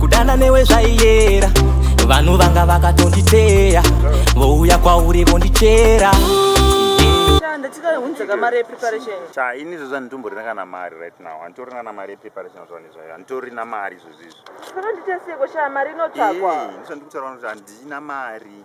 kudana newe zvaiyera vanhu vanga vakatonditeya vouya kwauri vondichera cha ini izvozvi anditomborina kana mari right now anditorina na mari yepreparation zvani zvayo anditorina mari izvozvi izvo zvakanditaseko sha mari inotsvakwa ndisandikutaura kuti handina mari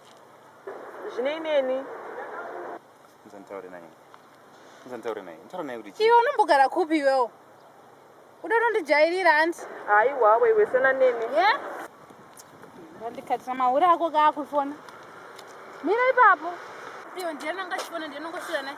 Zvinei neni? Nditaure naye. Nditaure naye. Nditaure naye kuti. Iwe unombogara kupi iwewo? Uda unondijairira hanti? Aiwa wewe sena neni. Yeah? Ndikatisa mahure ako kaakufona. Mira ipapo. Iwe ndiye ananga achifona ndiye anongosvira naye.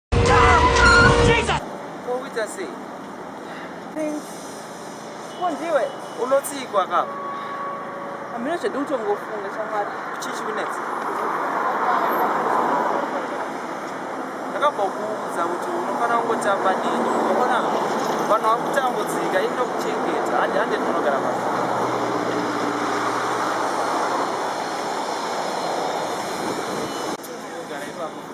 Kokuita sei? Prince, ko ndiwe? Unotsii kwaka? Hamina zvandinotongofunga shamwari. Chii chikunetsa? Ndakambokuudza kuti unofanira kungotamba neni. Unoona vanhu vakutambudzika, ini ndokuchengeta. Handi handi ndinogara pasi.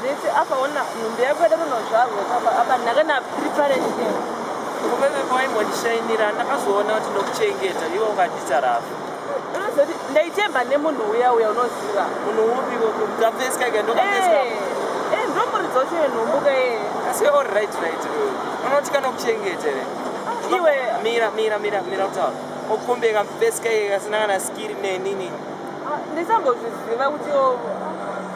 zvese apa ona nhumbi yako yada kunozvarwa apa apa nhaka na preparate kumeme maimbondishainira ndakazoona kuti ndokuchengeta iwe ungandita rafu unozoti ndaitemba nemunhu uya uya unoziva munhu upi ndamveskaika ndokamveska eh ndomuridza ucho yenhumbuka ye asi all right right unoti kana kuchengeta re ah, iwe mira mira mira mira kutaura okumbeka mveskaika kasina kana skiri nenini ah, ndisambozviziva kuti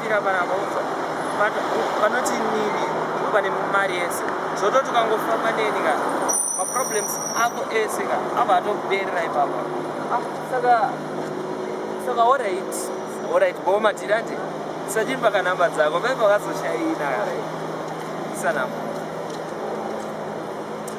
fira paravaunza panoti nini ndipo pane mari yese zvototi ukangofamba neni ka maproblems ako ese ka ava atokuberera ipapa ah, saka saka orit orit bo matirande sachimba kanhamba dzako vaiva vakazoshaina isanamba